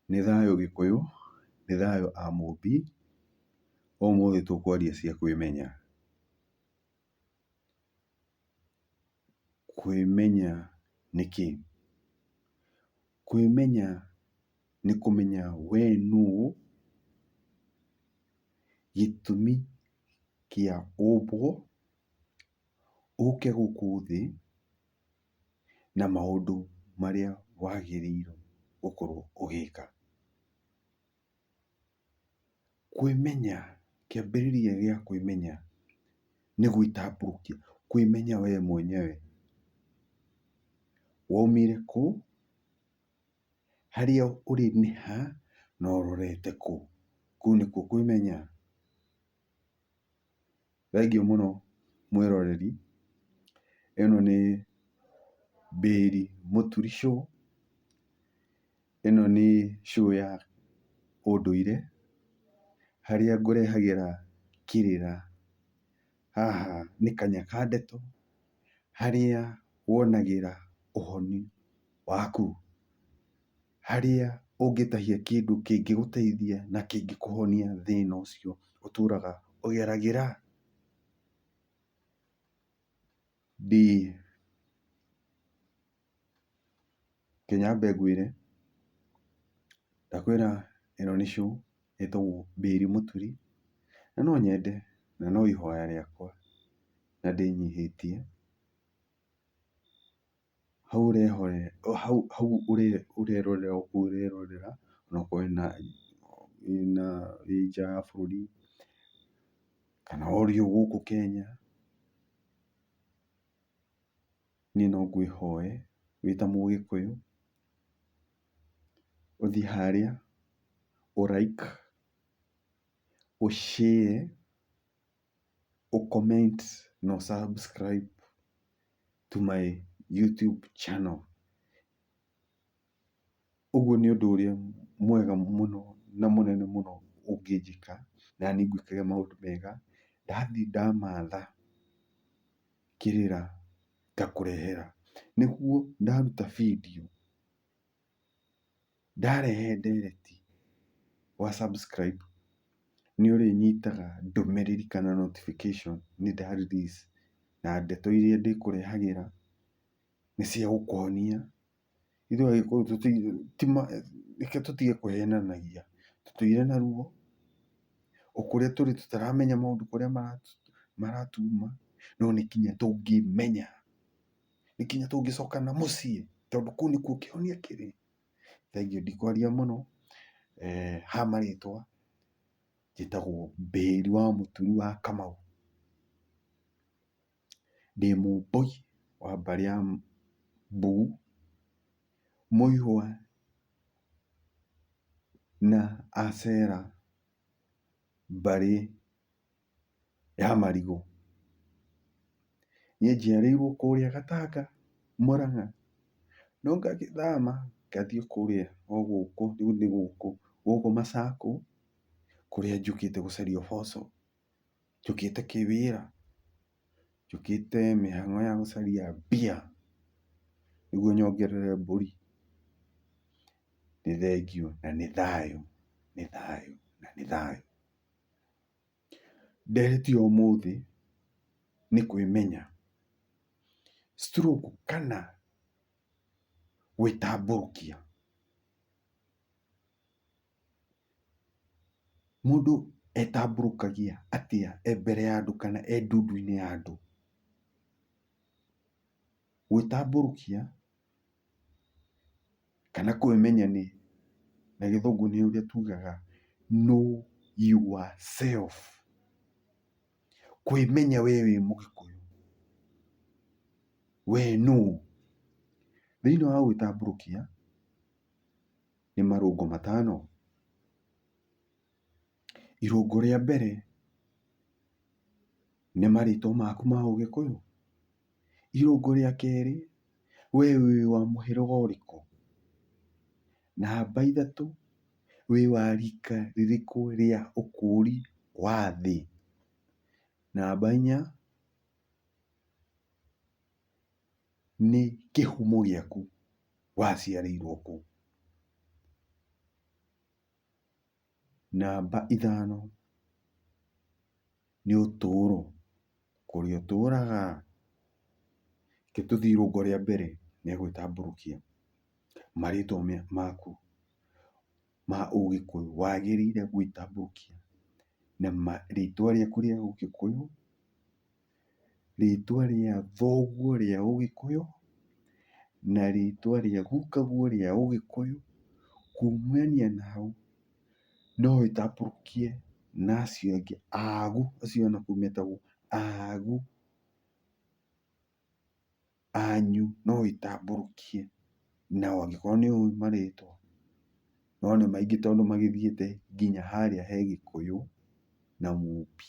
Nĩ thayũ gĩkũyũ, nĩ thayũ a mũmbi, ũmũthĩ tũkwaria cia kwĩmenya. Kwĩmenya nĩ kĩ? Kwĩmenya nĩ kũmenya we nũ, gĩtũmi kĩa ũmbwo, ũke gũkũ thĩ, na maũndũ marĩa wagĩrĩirwo gũkorwo ũgĩka. Kwĩmenya, kĩambĩrĩria gĩa kwĩmenya nĩ gwĩtambũrũkia, kwĩmenya we mwenyewe, waumire kũ, harĩa ũrĩ nĩ ha, na ũrorete kũ. Kũu nĩkuo kwĩmenya. Thengiũ mũno mwĩroreri, ĩno nĩ mbĩri mũturi show. Ĩno nĩ show ya ũndũire, harĩa ngũrehagĩra kĩrĩra. Haha nĩ Kanyakandetũ, harĩa wonagĩra ũhoni waku. harĩa ũngĩtahia kĩndũ kĩngĩgũteithia na kĩngĩkũhonia thĩna ũcio ũtũraga ũgeragĩra. Reke nyambe ngwĩre, ndakwĩra ĩno nĩ show ĩtagwo Mbĩri Mũturi, na no nyende na no ihoya rĩakwa na ndĩnyihĩtie. Hau ũrehorera, hau ũrerorera ũguo ũrerorera ona okorwo wĩna, wĩna, wĩ nja ya bũrũri kana ũrĩ o gũkũ Kenya, niĩ no ngwĩhoe wĩ ta mũgĩkũyũ ũthiĩ harĩa ũ like ũ share ũcomment na ũ subscribe to my YouTube channel. Ũguo nĩ ũndũ ũrĩa mwega mũno na mũnene mũno ũngĩnjĩka naniĩ ngwĩkage maũndũ mega. Ndathiĩ ndamatha kĩrĩra ngakũrehera, nĩguo ndaruta video. Ndarehe ndereti wa subscribe nĩ ũrĩnyitaga ndũmĩrĩri kana notification nĩ nda release na ndeto iria ndĩkũrehagĩra nĩ cia gũkuonia. Ithuĩ Agĩkũyũ reke tũtige kũhenanagia, tũtũire na ruo, o kũrĩa tũrĩ tũtaramenya maũndũ kũrĩa maratuma no nĩ kinya tũngĩmenya. nĩ nginya tũngĩcoka na mũciĩ tondũ kũu nĩkuo kĩhonia kĩrĩ. Thengiũ ndikwaria mũno, ha marĩtwa njĩtagwo Mbĩri wa mũturi wa Kamau. Ndĩ Mũmbũi wa mbarĩ ya Mbugu, mũihwa na acera mbarĩ. ya marigũ. Niĩ njiarĩirwo kũrĩa Gatanga, Mũrang'a, no ngagĩthama ngathiĩ kũrĩa o gũkũ, rĩu nĩ gũkũ, gũkũ Masaku, kũrĩa njũkĩte gũcaria ũboco, njũkĩte kĩwĩra, njũkĩte mĩhang'o ya gũcaria mbia, nĩguo nyongerere mbũri. Nĩ thengiũ na nĩ thayũ, nĩ thayũ na nĩ thayũ. Nderĩtio ũmũthĩ nĩ kwĩmenya. Stroke kana gwĩtambũrũkia. Mũndũ etambũrũkagia atĩa e mbere ya andũ kana e ndundu-inĩ ya andũ? Gwĩtambũrũkia kana kwĩmenya nĩ, na gĩthũngũ nĩ ũrĩa tugaga know yourself. Kwĩmenya we wĩ mũgĩkũyũ, we nũũ. Thĩinĩ wa gwĩtambũrũkia, nĩ marũngũ matano. Irũngũ rĩa mbere nĩ marĩtwa maku ma ũgĩkũyũ. Irũngũ rĩa kerĩ we wĩ wa mũhĩrĩga ũrĩkũ. Namba ithatũ wĩ wa rika rĩrĩkũ rĩa ũkũri wa thĩ. Namba inya nĩ kĩhumo gĩaku waciarĩirwo kũ. Namba ithano nĩ ũtũũro, kũrĩa ũtũũraga. Reke tũthiĩ irũngo rĩa mbere rĩa gwĩtambũrũkia, marĩtwa maku ma ũgĩkũyũ, wagĩrĩire gwĩtambũrũkia na rĩtwa rĩaku rĩa ũgĩkũyũ. rĩtwa rĩa thoguo rĩa ũgĩkũyũ, na rĩtwa rĩa gukaguo rĩa ũgĩkũyũ, kumania na hau no ĩtambũrũkie na acio angĩ agu, acio anaku metagwo agu. anyu no ĩtambũrũkie nao angĩkorwo nĩ ũĩ marĩtwa. No nĩ maingĩ tondũ magĩthiĩte nginya harĩa he Gĩkũyũ na Mũmbi.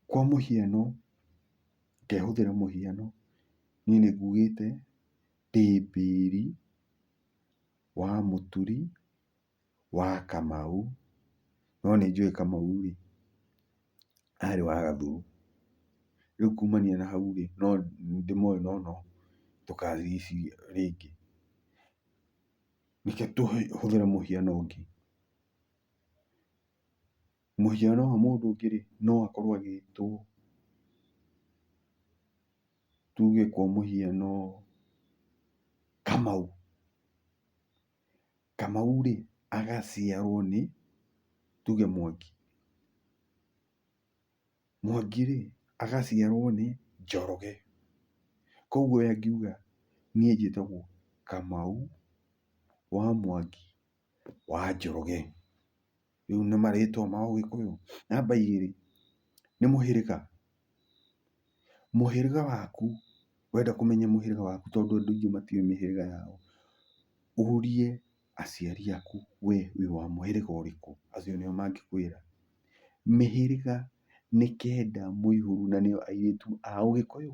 Kwa mũhiano, ngehũthĩra mũhiano, niĩ nĩ ngugĩte Pĩpĩri wa Mũturi wa Kamau, no nĩ njũĩ Kamau rĩ, arĩ wa Gathuru. Rĩu kumania na hau rĩ, no ndĩmoĩ no no ndũkarigie rĩngĩ. Reke tũhũthĩre mũhiano ũngĩ. Mũhiano wa mũndũ ũngĩ rĩ, no akorwo agĩtwo tuge kwa mũhiano Kamau. Kamau rĩ agaciarwo nĩ tuge Mwangi. Mwangi rĩ agaciarwo nĩ Njoroge. Koguo we angiuga niĩ njĩtagwo Kamau wa Mwangi wa Njoroge. rĩu nĩ marĩtwa ma ũgĩkũyũ. Namba igĩrĩ, nĩ mũhĩrĩga, mũhĩrĩga waku, wenda kũmenya mũhĩrĩga waku tondũ andũ aingĩ matiũĩ mĩhĩrĩga yao, ũrie aciari aku we wĩ wa mũhĩrĩga ũrĩkũ, acio nĩo mangĩkwĩra. Mĩhĩrĩga nĩ kenda mũihũro na nĩyo airĩtu a ũgĩkũyũ.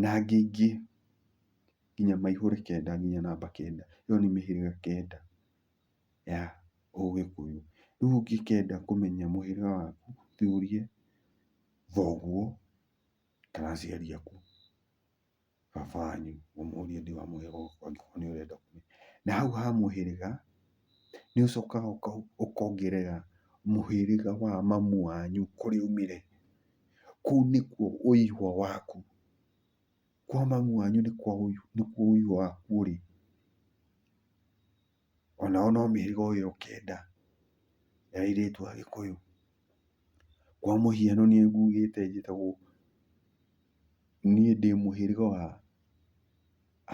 na angĩ aingĩ nginya maihũre kenda nginya namba kenda. Ĩyo nĩ mĩhĩrĩga kenda ya ũgĩkũyũ. Rĩu ũngĩkenda kũmenya mũhĩrĩga waku ũthiĩ ũrie thoguo kana aciari aku, baba wanyu ũmũrie nĩ wa mũhĩrĩga ũrĩkũ angĩkorwo nĩ ũrenda kũmenya. Na hau ha mũhĩrĩga nĩ ũcokaga ũkongerera mũhĩrĩga wa mamu wanyu kũrĩa aumire Kũu nĩkuo ũihwa waku. Kwa mami wanyu nĩkuo ũihwa waku ũrĩ. O nao no mĩhĩrĩga o ĩyo kenda ya airĩtu a Gĩkũyũ. Kwa mũhiano niĩ ngugĩte njĩtagwo, niĩ ndĩ mũhĩrĩga wa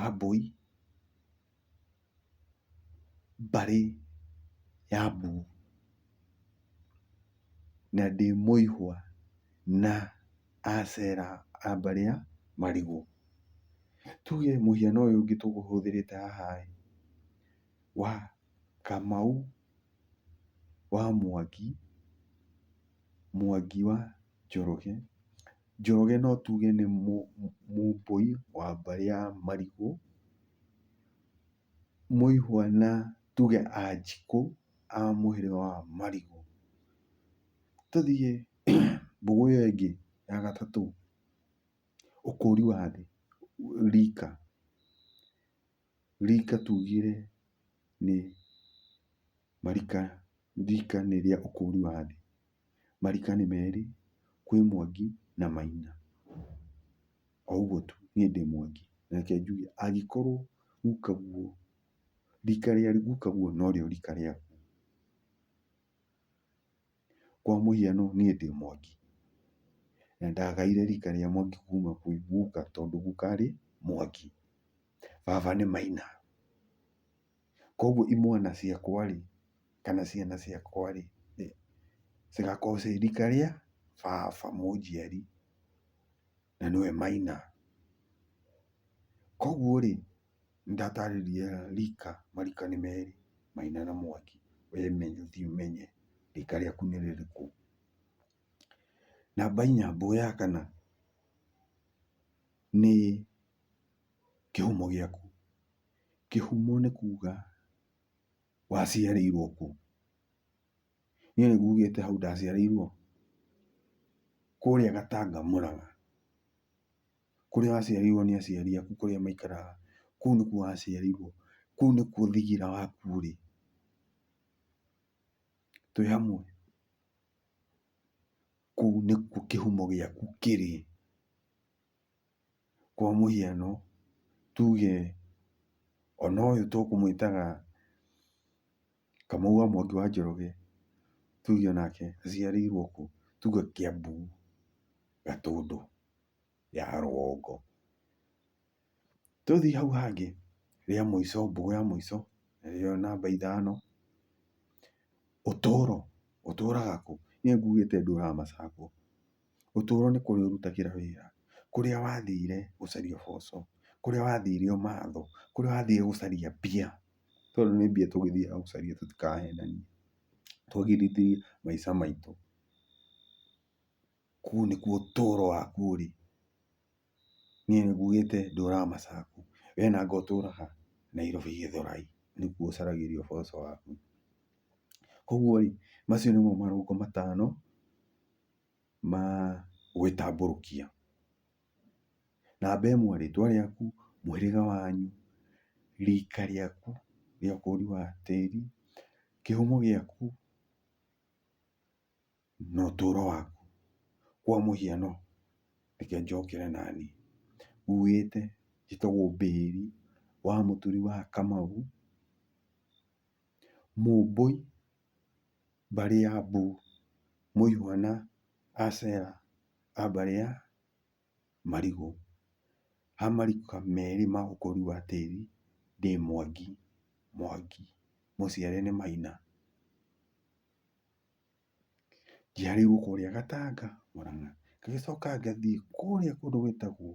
Ambũi. mbarĩ ya mbuu, na ndĩ mũihwa na acera a mbarĩ ya marigũ. Tuge mũhiano ũyũ ũngĩ tũhũthĩrĩte haha-ĩ, wa Kamau wa Mwangi, Mwangi wa. Njoroge. Njoroge no tuge nĩ mũmbũi wa mbarĩ ya marigũ, mũihwa na tuge anjikũ a mũhĩrĩga wa marigũ. Tũthiĩ mbũgũ ĩyo ĩngĩ ya gatatũ, ũkũri wa thĩ, rika. Rika tugire nĩ marika, rika nĩ rĩa ũkũri wa thĩ. Marika nĩ merĩ, kwĩ Mwangi na Maina. O ũguo tu, niĩ ndĩ Mwangi, na reke njuge angĩkorwo guka guo, rika rĩa guka guo norĩo rika rĩaku. Kwa mũhiano niĩ ndĩ Mwangi, na ndagaire rika rĩa Mwangi kuma kwĩ guka tondũ guka arĩ Mwangi, baba nĩ Maina. Koguo imwana ciakwa-rĩ, kana ciana ciakwa-rĩ, cigakorwo ciĩ rika rĩa baba mũnjiari. na nĩwe maina. Koguo rĩ, nĩ ndatarĩria rika, marika nĩ merĩ, maina na mwangi, we thiĩ ũmenye rika rĩaku nĩ rĩrĩkũ. Namba inya, mbũa ya kana nĩ kĩhumo gĩaku, kĩhumo nĩ kuga waciarĩirwo kũ, Niĩ nĩ ngugĩte hau ndaciarĩirwo kũrĩa Gatanga Mũrang'a, kũrĩa waciarĩirwo nĩ aciari aku kũrĩa maikaraga, kũu nĩkuo waciarĩirwo, kũu nĩkuo thigira waku ũrĩ. Twĩ hamwe, kũu nĩkuo kĩhumo gĩaku kĩrĩ. Kwa mũhiano tuge ona ũyũ tũkũmwĩtaga. Kamau wa Mwangi wa Njoroge, tuge onake aciarĩirwo kũ? Tuge Kĩambu, Gatũndũ ya rũgongo. Tũthiĩ hau hangĩ, rĩa mũico, mbũgũ ya mũico, nĩyo namba ithano, Ũtũro, ũtũraga kũ? Niĩ nguugĩte ndũũraga Macakũũ. Ũtũũro nĩ kũrĩa ũrutagĩra wĩra, kũrĩa wathire gũcaria ũboco, kũrĩa wathire ũmatho, kũrĩa wathire gũcaria mbia. Tondũ nĩ mbia tũgĩthiaga gũcaria tũtikahenanie, twagĩrithie maica maitũ. Kũu nĩkuo ũtũũro waku ũrĩ. Niĩ nĩ ngugĩte ndũũraga Masaku, wee nanga ũtũũraga Nairobi Gĩthũrai, nĩkuo ũcaragĩria ũboco waku. Kũguo rĩ, macio nĩmo marũngo matano. ma gwĩtambũrũkia. Namba ĩmwe rĩtwa rĩaku, mũhĩrĩga wanyu, rika rĩaku rĩa ũkũri wa tĩri, kĩhumo gĩaku na ũtũro waku. Kwa mũhiano reke njokere naniĩ, uĩte njĩtagwo Bĩri wa mũturi wa Kamau, Mũmbũi. mbarĩ ya Mbu, mũihwa na Asera a mbarĩ ya Marigũ, ha marika merĩ ma ũkũri wa tĩri ndĩ Mwangi, Mwangi, mũciare nĩ Maina. Njiarĩirwo kũrĩa Gatanga, Mũrang'a, ngagĩcoka ngathiĩ kũrĩa kũndũ gwĩtagwo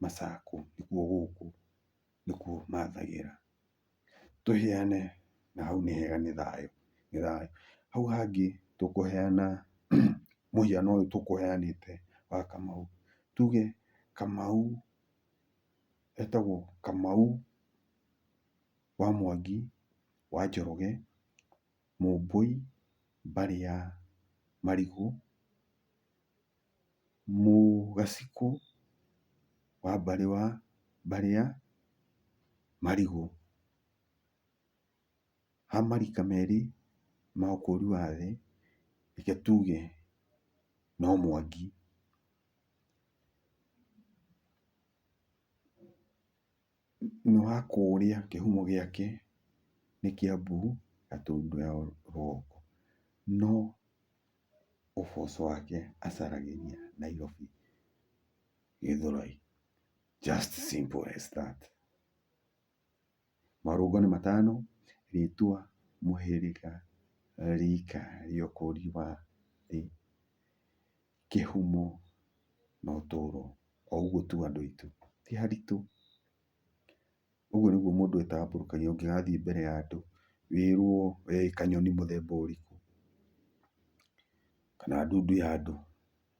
Macakũ, nĩkuo gũkũ nĩkuo mathagĩra. tũheane na hau nĩ hega nĩ thayũ, nĩ thayũ. Hau hangĩ tũkũheana mũhiano ũyũ tũkũheanĩte wa Kamau. Tuge Kamau etagwo Kamau wa Mwangi, wa Njoroge, Mũmbũi, mbarĩ ya Marigũ. mũgacikũ wa mbarĩ wa mbarĩa marigũ. Ha marika merĩ ma ũkũri wa thĩ, reke tuge no Mwangi. nĩ wa kũũrĩa kĩhumo gĩake nĩ Kĩambu na tondũ ya rũgongo, no ũboco wake acaragĩria Nairobi Gĩthũrai. Just simple as that. Marũngo nĩ matano, rĩtwa, mũhĩrĩga, rika rĩa ũkũri wa thĩ. kĩhumo na ũtũro o ũguo tu andũ aitũ, ti haritũ. Ũguo nĩguo mũndũ etambũrũkagia ũngĩgathiĩ mbere ya andũ wĩrwo we wĩ kanyoni mũthemba ũrĩkũ, kana ndundu ya andũ,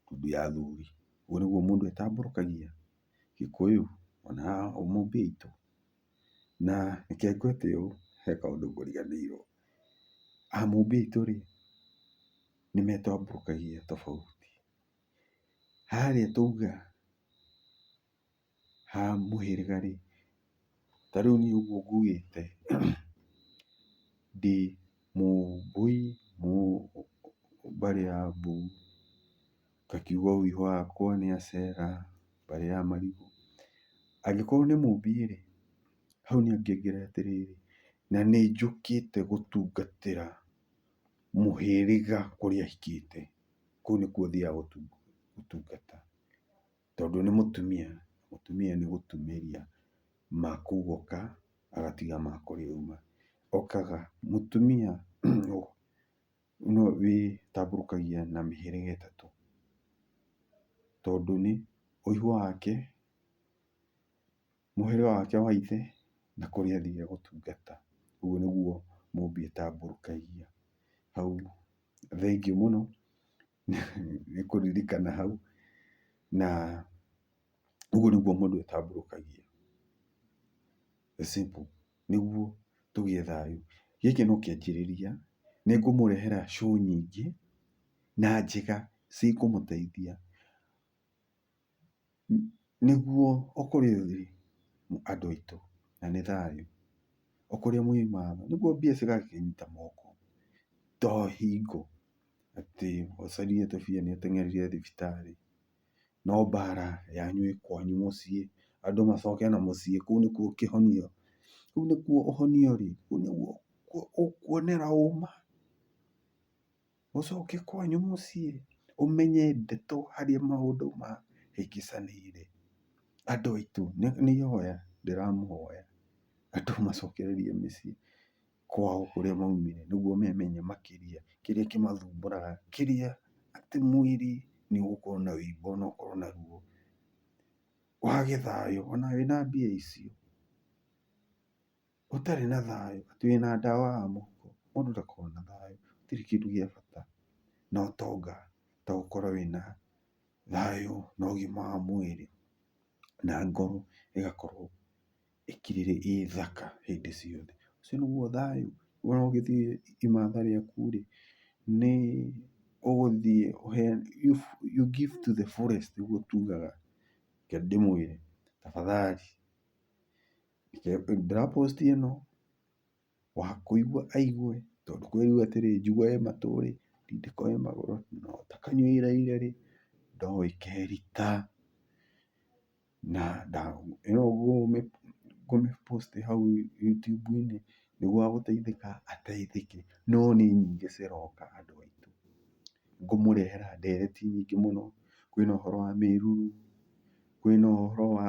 ndundu ya athuri, ũguo nĩguo mũndũ etambũrũkagia, gĩkũyũ ona mũmbĩ aitũ. Na reke ngwĩte ũũ he kaũndũ ngũriganĩirwo, a mũmbĩ aitũ rĩ. nĩ metambũrũkagia tofauti. Harĩa twauga ha mũhĩrĩga rĩ, ta rĩu niĩ ũguo ngugĩte ndĩ mũmbũi mbarĩ ya mbu, ngakiuga ũhiũ wakwa nĩ acera mbarĩ ya marigũ. Angĩkorwo nĩ mũmbiĩ rĩ, hau niĩ ngĩongerera atĩrĩrĩ, na nĩ njũkĩte gũtungatĩra. mũhĩrĩga kũrĩa ahikĩte, kũu nĩkuo ũthiaga gũtungata, tondũ nĩ mũtumia, mũtumia nĩ gũtumĩria makuga oka agatiga ma kũrĩa auma, okaga mũtumia no wĩtambũrũkagia na mĩhĩrĩga ĩtatũ, tondũ nĩ ũihwa wake, mũhĩrĩga wake wa ithe na kũrĩa athiire gũtungata. Ũguo nĩguo mũũmbi etambũrũkagia. Hau thengiũ mũno nĩ kũririkana hau na ũguo nĩguo mũndũ etambũrũkagia. The simple nĩguo tũgĩe thayũ. Gĩkĩ no kĩanjĩrĩria. Nĩ ngũmũrehera show nyingĩ na njega cikũmũteithia. Nĩguo ũkũrie ũthii andũ aitũ na nĩ thayũ, ũkũrie mũima thayũ, nĩguo mbia cigakĩnyita moko to hingo atĩ ũcarie tũbia nĩ ũteng'erire thibitarĩ. No mbara yanyu ĩ kwanyu mũciĩ, andũ macoke na mũciĩ, kũu nĩkuo kĩhonia, kũu nĩkuo ũhonio ũrĩ, kũu nĩkuo ũkuonera ũma. ũcoke kwanyu mũciĩ ũmenye ndeto harĩa maũndũ mahĩngĩcanĩire. Andũ aitũ nĩ ihoya ndĩramũhoya andũ macokererie mĩciĩ kwao kũrĩa maumire nĩguo memenye makĩria kĩrĩa kĩmathumbũraga kĩrĩa atĩ mwĩrĩ nĩ ũgũkorwo na wĩimbo ona ũkorwo na ruo. Wage thayũ ona wĩna mbia icio. ũtarĩ na thayũ, atĩ wĩna ndawa ya mũhuko, mũndũ ndakoragwo na thayũ, gũtirĩ kĩndũ gĩa bata na ũtonga ta gũkorwo wĩna thayũ na ũgima wa mwĩrĩ, na ngoro ĩgakorwo ĩkirĩrĩ ĩ thaka hĩndĩ ciothe. Ũcio nĩguo thayũ, wona ũgĩthiĩ imatha rĩaku-rĩ, nĩ ũgũthiĩ you give to the fullest nĩguo tugaga, reke ndĩmwĩre tafadhali ndĩra post ĩno, wa kũigua aigue, tondũ kwĩ rĩu atĩrĩ, njũgũ ĩ matũ rĩ, ndindĩko ĩ magũrũ, no ta kanyua iraire rĩ, ndogo ĩkerita. Na ĩno ngũmĩ post hau YouTube-inĩ, nĩguo wa gũteithĩka ateithĩke. No nĩ nyingĩ ciroka andũ aitũ. Ngũmũrehera ndereti nyingĩ mũno, kwĩna ũhoro wa mĩruru, kwĩna ũhoro wa...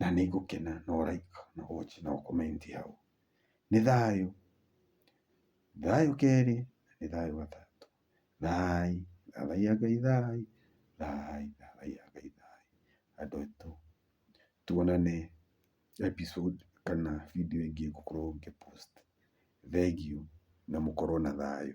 na nĩ ngũkena no like no watch no comment hau. Nĩ thayũ, thayũ kerĩ na nĩ thayũ gatatũ. Thaai, thathaiya Ngai thaai, thaai, thathaiya Ngai thaai. Andũ aitũ tuonane episode kana video ĩngĩ ngũkorwo ngĩ post. Thengiũ na mũkorwo na thayũ.